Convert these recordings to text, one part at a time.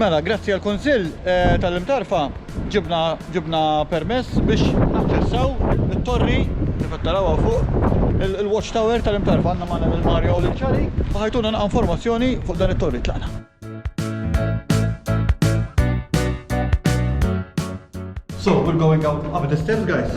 Mela, grazzi għal kunsill eh, tal-imtarfa, ġibna, ġibna permess biex naċċessaw it-torri li fattarawa fuq il-watch tower tal-imtarfa għanna maħna il mario u l-ċari u ħajtuna naqqa informazzjoni fuq dan it-torri tlaqna. So, we're going out up the stairs, guys.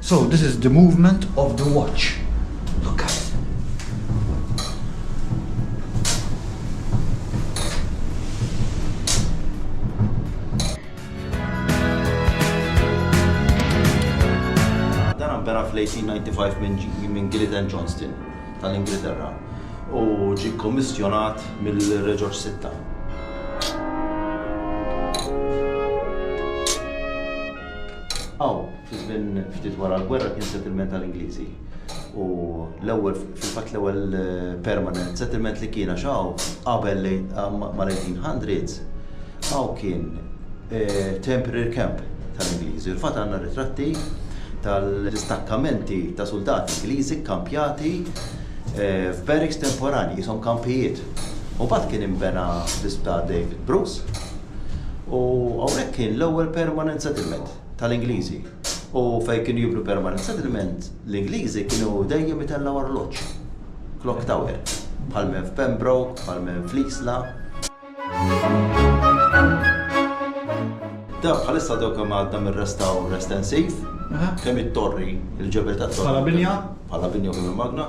So this is the movement of the watch. Look at it. Dan nbena fl-1895 minn Gillet and Johnston tal-Ingilterra u ġie kkommissjonat mill-Re Ġorġ Sitta. Hawn, fi żmien ftit wara l-gwerra kien settlement tal-Ingliżi u l-ewwel fil-fatt l-ewwel permanent settlement li kien għax hawn qabel mal-1800 hawn kien temporary camp tal-Ingliżi. Il-fatt għandna ritratti tal-distakkamenti ta' suldati Ingliżi kkampjati f'barracks temporanji, qishom kampijiet. Mbagħad kien inbena l-isptar David Bruce, U hawnhekk kien l-ewwel permanent settlement tal-Ingliżi. U fejn kienu jibnu permanent settlement, l-Ingliżi kienu dejjem itellgħu arloġġ. Clock tower. Bħal men f'Pembroke, bħal men fl-Isla. Dan bħalissa dawk kemm għadna minn restawr estensiv, kemm it-torri, il-ġebel tat-torri. Bħala binja? Bħala binja u kemm il-magna.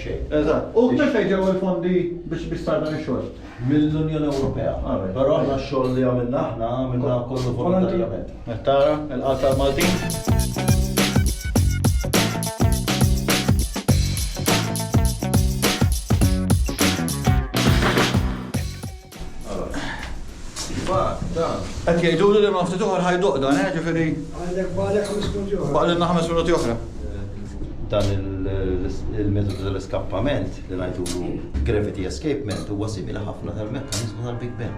xejn. Eżatt. U minn fejn ġew il-fondi biex biex sar dan ix-xogħol? Mill-Unjoni Ewropea. Għalhekk. Però aħna x-xogħol li għamilna aħna għamilna kollu volontarjament. Qed tara il-qalb tal-Maltin? Qed jgħiduli li ma ftit oħra ħajduq dan, eh, ġifieri. Għandek baqalek ħames minuti oħra. Baqalilna ħames minuti oħra. Dan il-metodu tal-iskappament li ngħidulu gravity escapement huwa simili ħafna tal-mekkaniżmu tal-Big Bang.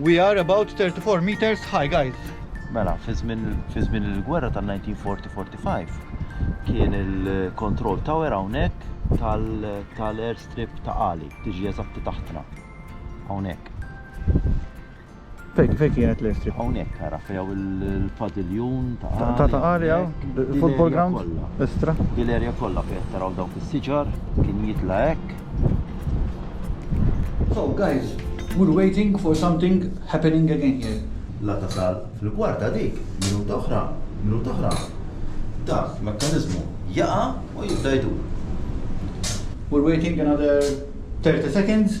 We are about 34 meters high, guys. Mela, fi żmien il-gwerra tal-1940-45 kien il-control tower hawnhekk tal-airstrip ta' Qali, tiġi eżatti taħtna. Hawnhekk. Fejn fejn kienet l-airstrip? Hawnhekk ara fejn il-padiljun ta' Qali. Ta' ta' Qali hawn, football ground, estra. Dil-area kollha fejn qed taraw dawk is-siġar kien jitla' hekk. So guys, we're waiting for something happening again here. La tasal fil-kwart ta' dik, minuta oħra, minuta oħra, dak il-mekkaniżmu jaqa' u jibda jdur. We're waiting another 30 seconds.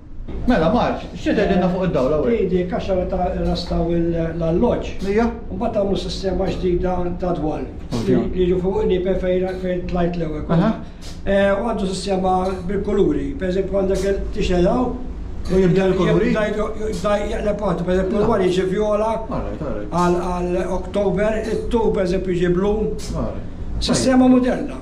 Mela, Marġ, x'se tgħidilna fuq id-dawl hawn? Speedy kaxaw ta' irrastaw l-alloġġ. Hija? Mbagħad għamlu sistema ġdida ta' dwal. Ovvja. Li jiġu fuq nieper fejn fejn tlajt l-ewwel kont. Aha. U għandu sistema bil-kuluri. Pereżempju għandek il tixgħel hawn. U jibdel il-kuluri? Jibda jibda jeqleb waħdu. Pereżempju l-ewwel jiġi vjola. All right, all right. Għal għal October, it-tul pereżempju jiġi blu. All right. Sistema moderna.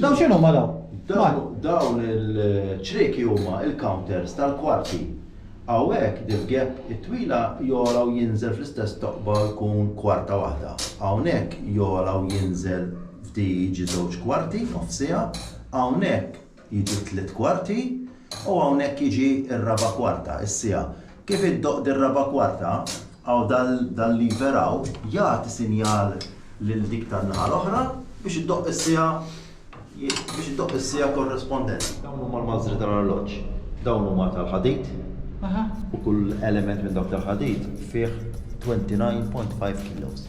Dawn x'inhuma dawn? Dawn dawn il-ċrieki huma l-counters tal-kwarti. Hawnhekk din gap it-twila jogħla u jinżel fl-istess toqba u jkun kwarta waħda. Hawnhekk jogħla u jinżel f'di jiġi żewġ kwarti, nofs siegħa, hawnhekk jiġu tliet kwarti u hawnhekk jiġi r-raba' kwarta, is-siegħa. Kif iddoqq dir-raba' kwarta, Hawn dan l-iver hawn jagħti sinjal lil dik tan-naħa l-oħra biex iddoqq is-siegħa biex iddoqq is-siegħa korrispondenti. Dawn huma l-mażżri tal-arloġġ. Dawn huma tal-ħadid u kull element minn dawk tal-ħadid fih 29.5 kilos.